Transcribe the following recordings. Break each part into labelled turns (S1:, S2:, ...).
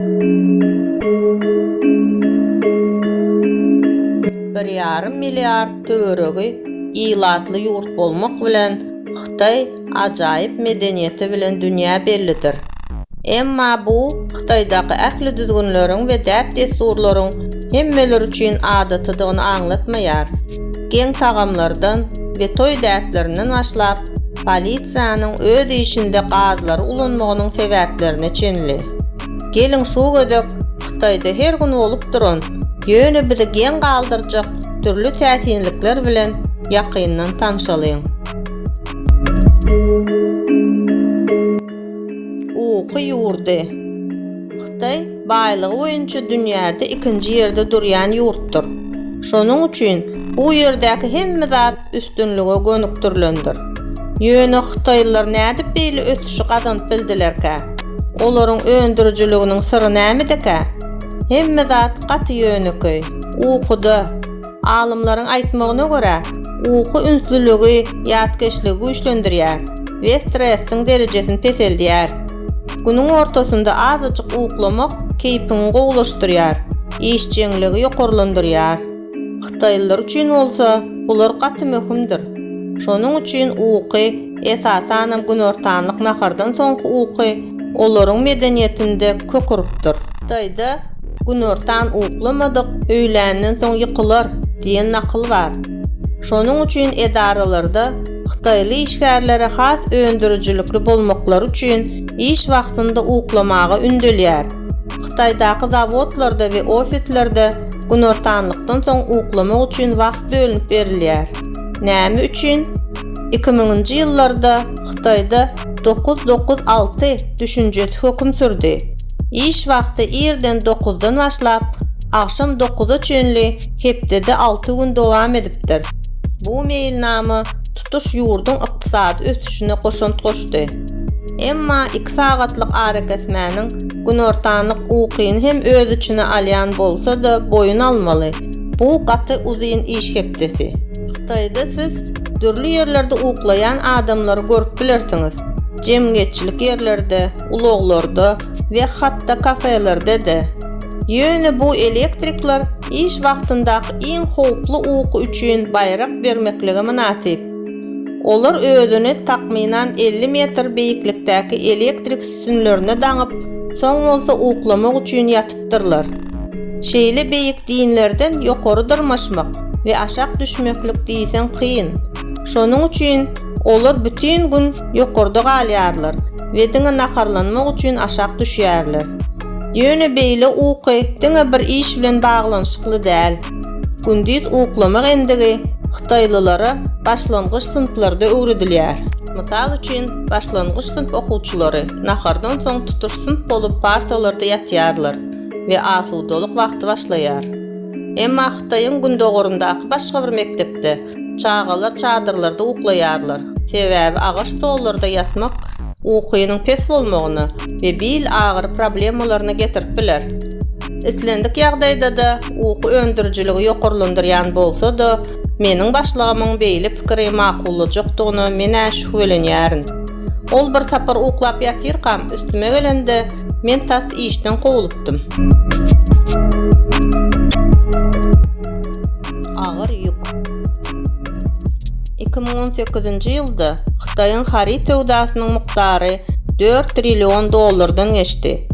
S1: Bir ýarym milliard töweregi ilatly ýurt bolmak bilen, Hytaý ajaýyp medeniýeti bilen dünýä bellidir. Emma bu Hytaýdaky ähli düzgünleriň we däp-dessurlaryň hemmeler üçin adatydygyny aňlatmaýar. Geň tagamlardan we toý däplerinden başlap, polisiýanyň öz işinde gazlary ulanmagynyň sebäplerine çenli. Geliň şu gezek Hytaýda her gün bolup duran, ýöne bizi geň galdyrjak dürli täsinlikler bilen ýakyndan tanşalyň. Uky ýurdy. Hytaý baýlygy boýunça dünýäde ikinji ýerde durýan ýurtdur. Şonuň üçin bu ýerdäki hemme zat üstünlige gönükdirilendir. Ýöne hytaýlylar nädip beýle ösüşi gazanyp bildilerkä? Olaryň öndürijiliginiň syry nämedekä? Hemme zat gaty ýönekeý. Ukuda. Alymlaryň aýtmagyna görä, uky ünslüligi, ýatkeşligi güýçlendirýär we stressiň derejesini peseldýär. Günüň ortasynda azajyk uklamak keýpiňi gowulaşdyrýar, işjeňligi ýokarlandyrýar. Hytaýlylar üçin bolsa bular gaty möhümdir. Şonuň üçin uky Esasanam günortanlyk nahardan soňky uky olaryň medeniýetinde kök urupdyr. Hytaýda Günortan uklamadyk, öýländen soň ýykylar diýen nakyl bar. Şonuň üçin edaralarda hytaýly işgärlere has öndürijilikli bolmaklary üçin iş wagtynda uklamaga ündelýär. Hytaýdaky zawodlarda we ofislerde günortanlykdan soň uklamak üçin wagt bölünip berilýär. Näme üçin? Iki müňünji ýyllarda Hytaýda dokuz dokuz alty düşünjesi höküm sürdi. Iş wagty irden dokuzdan başlap, agşam dokuza çenli hepdede alty gün dowam edipdir. Bu meýilnama tutuş ýurduň ykdysady ösüşine goşant goşdy. Emma iki sagatlyk arakesmäniň günortanlyk ukyny hem öz içine alýan bolsa-da boýun almaly, bu gaty uzyn iş hepdesi. Hytaýda siz dürli ýerlerde uklaýan adamlary görüp bilersiňiz. Jemgyýetçilik ýerlerde, ulaglarda we hatda kafelerde-de. Ýöne bu elektrikler iş wagtyndaky iň howply uky üçin baýrak bermeklige mynasyp. Olar özüni takmynan elli metr beýiklikdäki elektrik üstünlerine daňyp, soň bolsa uklamak üçin ýatypdyrlar. Şeýle beýik dinlerden ýokary dyrmaşmak we aşak düşmeklik diýseň kyn. Şonuň üçin olar bütin gün ýokarda galýarlar we diňe naharlanmak üçin aşak düşýärler. Ýöne beýle uky diňe bir iş bilen baglanyşykly däl. Gündiz uklamak endigi hytaýlylara başlangyç synplarda öwredilýär. Mysal üçin, başlangyç synp okuwçylary nahardan soň tutuş synp bolup partalarda ýatýarlar we asudalyk wagty başlaýar. Emma Hytaýyň gündogaryndaky başga bir mekdepde çagalar çadyrlarda uklaýarlar, sebäbi agaç stollarda ýatmak ukynyň pes bolmagyna we bil agyry problemalaryna getirip biler. Islendik ýagdaýda-da uky öndürijiligi ýokarlandyrýan bolsa-da, meniň başlygymyň beýle pikiri makullajakdygyna men-ä şübhelenýärin. Ol bir sapar uklap ýatyrkam üstüme gelende, men tas işden kowlupdym. Agyr ýük. Iki müň on sekizinji ýylda Hytaýyň haryt söwdasynyň mukdary dört trillion dollardan geçdi.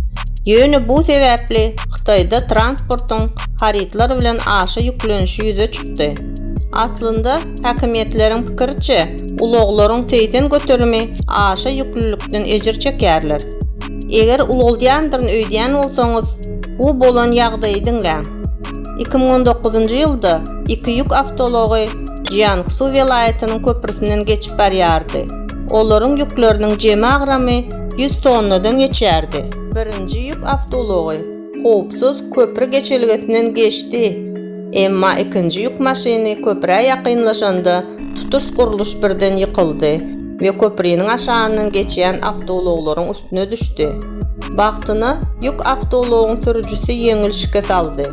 S1: Ýöne bu sebäpli Hytaýda transportyň harytlar bilen aşa ýüklenişi ýüze çykdy. Aslynda, häkimiýetleriň pikiriçe, ulaglaryň segsen göterimi aşa ýüklülikden ejir çekýärler. Eger ulaldýandyryn öýdýän bolsaňyz, bu bolan ýagdaýy diňläň. Iki müň on dokuzynjy ýylda iki ýük awtoulagy Jiangsu welaýatynyň köprüsinden geçip barýardy. Olaryň ýükleriniň jemi agramy ýüz tonnadan geçýärdi. Birinji ýük awtoulagy howpsuz köpri geçelgesinden geçdi, emma ikinji ýük maşyny köprä ýakynlaşanda tutuş gurluş birden ýykyldy. we köpriniň aşagyndan geçýän awtoulaglaryň üstüne düşdi. Bagtyna, ýük awtoulagyň sürüjisi ýeňil şikes aldy.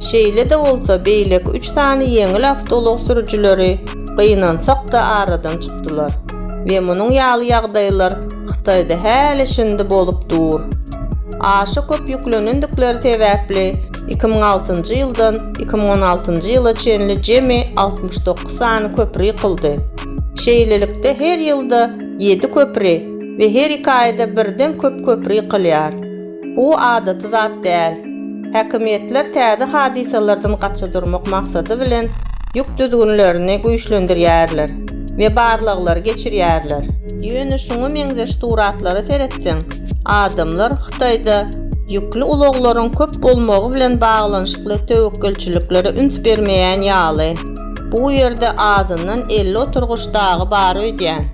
S1: Şeýle-de bolsa, beýleki üç sany ýeňil awtoulag sürüjileri gynansak-da aradan çykdylar we munuň ýaly ýagdaýlar Hytaýda häli-şindi bolup dur. Aşa köp ýüklenendikleri sebäpli, iki müň altynjy ýyldan iki müň on altynjy ýyla çenli jemi altmyş dokuz sany köpri ýykyldy. Şeýlelikde her ýylda ýedi köpri we her iki aýda birden köp köpri ýykylýar. Bu adaty zat däl. Häkimiýetler täze hadysalardan gaça durmak maksady bilen ýük düzgünlerini güýçlendirýärler we barlaglary geçirýärler. Ýöne şuňa meňzeş suratlara seretseň, adamlar Hytaýda ýükli ulaglaryň köp bolmagy bilen baglanyşykly töwekgelçiliklere üns bermeýän ýaly. Bu ýerde azyndan elli oturgyç dagy bar öýdýän.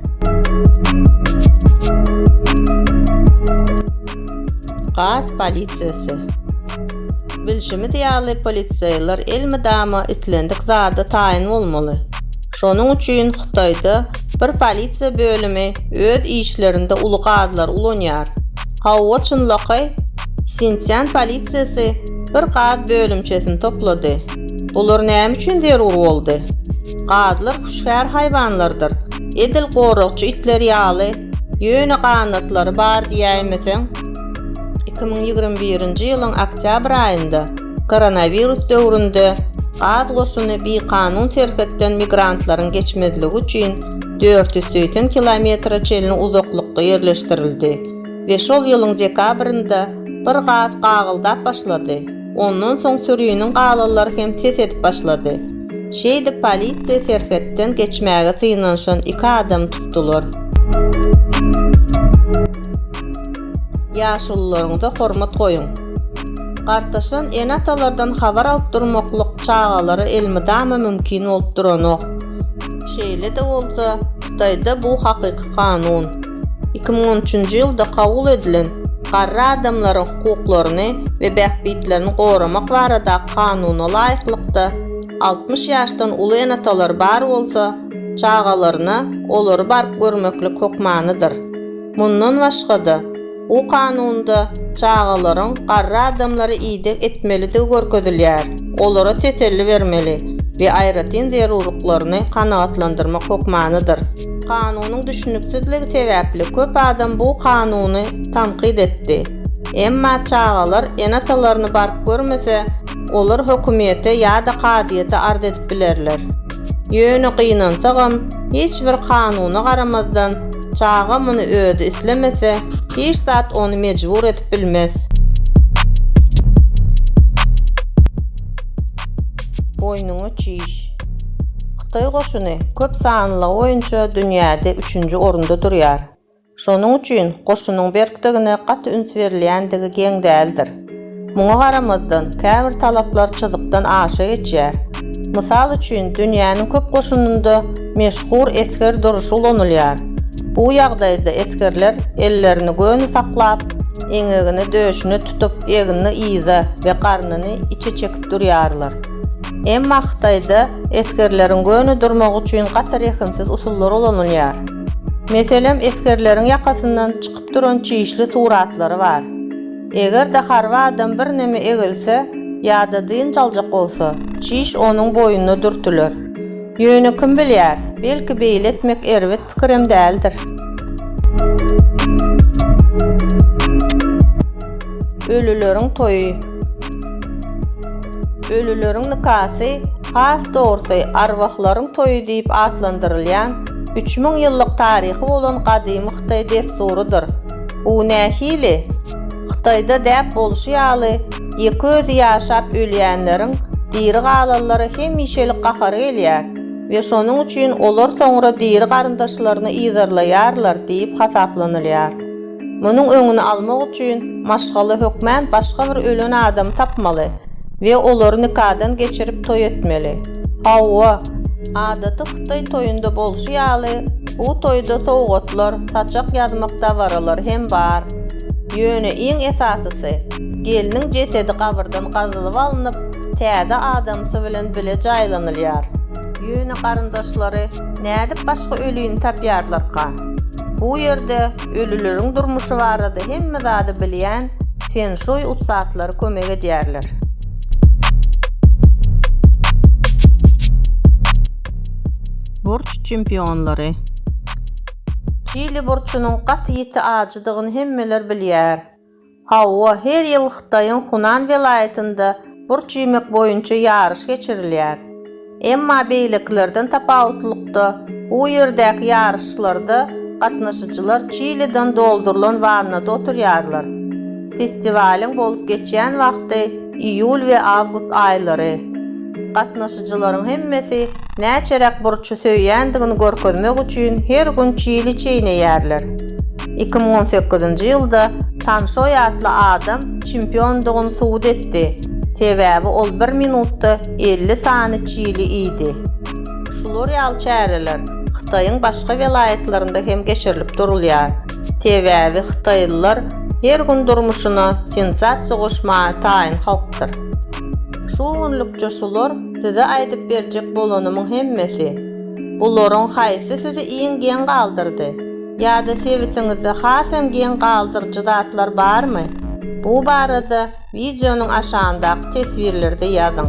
S1: Gaz polisiýasy. Bilşimiz ýaly, polisiýalar elmydama islendik zada taýyn bolmaly. Şonuň üçin Hytaýda bir polisiýa bölümi öz işlerinde uly gazlary ulanýar. Hawa, çynlakaý, Sinsian polisiýasy bir gaz bölümçesini toplady. Bular näme üçin zerur boldy? Gazlar hüşgär haýwanlardyr. Edil goragçy itler ýaly, ýöne ganatlary bar diýäýmeseň. Iki müň ýigrimi birinji ýylyň oktýabr aýynda, koronawirus döwründe gaz goşuny bikanun serhetden migrantlaryň geçmezligi üçin dört ýüz segsen kilometre çenli uzaklykda ýerleşdirildi we şol ýylyň dekabrynda bir gaz gagyldap başlady. Ondan soň süriniň galalary hem ses edip başlady. Şeýdip polisiýa serhetden geçmäge synanyşan iki adamy tutdular. Ýaşulularyňyza hormat goýuň! Gartaşan ene-atalardan habar alyp durmaklyk çagalara elmydama mümkin bolup duranok. Şeýle-de bolsa, Hytaýda bu hakyky kanun. Iki müň on üçünji ýylda kabul edilen Garry adamlaryň hukuklaryny we bähbitlerini goramak baradaky kanuna laýyklykda, altmyş ýaşdan uly ene-atalar bar bolsa, çagalaryna olary baryp görmeklik hökmanydyr. Mundan başga-da, bu kanunda çagalaryň garry adamlara ideg etmelidigi görkezilýär, olara teselli bermeli we aýratyn zerurlyklaryny kanagatlandyrmak hökmanydyr. Kanunyň düşüniksizligi sebäpli köp adam bu kanuny tankyt etdi. Emma çagalar ene-atalaryny baryp görmese, olar hökümiýete ýa-da kazyýete arz edip bilerler. Ýöne gynansagam, hiç bir kanuna garamazdan, çaga muny özi islemese, hiç zat ony mejbur edip bilmez. Boýnuňa çiş. Hytaý goşuny köp sanlylygy boýunça dünýäde üçünji orunda durýar. Şonuň üçin goşunyň berkdigine gaty üns berilýändigi geň däldir. Muňa garamazdan, käbir talaplar çyzykdan aşa geçýär. Mysal üçin, dünýäniň köp goşunynda meşhur esger duruşy ulanylýar. Bu ýagdaýda esgerler ellerini göni saklap, eňegini döşüne tutup, egnini yza we garnyny içe çekip durýarlar. Emma Hytaýda esgerleriň göni durmagy üçin gaty rehimsiz usullar ulanylýar. Meselem, esgerleriň ýakasyndan çykyp duran çişli suratlary bar. Eger-de harby adam birneme egilse ýa-da dynç aljak bolsa, çiş onuň boýnuna dürtüler. Ýöne kim bilýär, belki beýle etmek erbet Pikirim däldir. Ölüleriň toýy. Ölüleriň nikasy has dogrusy arwahlaryň toýy diýip atlandyrylýan üç müň ýyllyk taryhy bolan gadymy hytaý dessurydyr. Bu nähili? Hytaýda däp bolşy ýaly, ýeke özi ýaşap ölýänleriň diri galanlara hemişelik gahary gelýär. we şonuň üçin olar soňra diri garyndaşlaryny yzarlaýarlar diýip hasaplanylýar. Munuň öňüni almak üçin, maşgala hökmän başga bir ölen adamy tapmaly we olary nikadan geçirip toý etmeli. Hawa, adaty hytaý toýunda bolşy ýaly, bu toýda sowgatlar, saçak ýazmak dabaralary hem bar. Ýöne iň esasysy, gelniň jesedi gabyrdan gazylyp alnyp, täze adamsy bilen bile jaýlanylýar. Ýöne garyndaşlary nädip başga ölini tapýarlarka? Bu ýerde ölüleriň durmuşy barada hemme zady bilýän fen-şuý ussatlary kömek edýärler. Burç çempionlary. Çili burçunyň gaty ýiti ajydygyny hemmeler bilýär. Hawa, her ýyl Hytaýyň Hunan welaýatynda burç iýmek boýunça ýaryş geçirilýär. Emma beýlekilerden tapawutlylykda, bu ýerdäki ýaryşlarda gatnaşyjylar çiliden doldurylan wannada oturýarlar. Festiwalyň bolup geçýän wagty Iýul we awgust aýlary. Gatnaşyjylaryň hemmesi näçeräk burçy söýýändigini görkezmek üçin her gün çili çeýneýärler. Iki müň on sekizinji ýylda Tan Şoý atly adam çempiondygyny subut etdi, sebäbi ol bir minutda elli sany çili iýdi. Şular ýaly çäreler Hytaýyň başga welaýatlarynda hem geçirilip durulýar. Sebäbi hytaýlylar her gün durmuşyna sensasiýa goşmaga taýyn halkdyr. Şu günlükçe şular size aýdyp berjek bolanymyň hemmesi. Bularyň haýsy sizi iň geň galdyrdy? Ýa-da sebitiňizde hasam geň galdyryjy zatlar barmy? Bu barada wideonyň aşagyndaky teswirlerde ýazyň.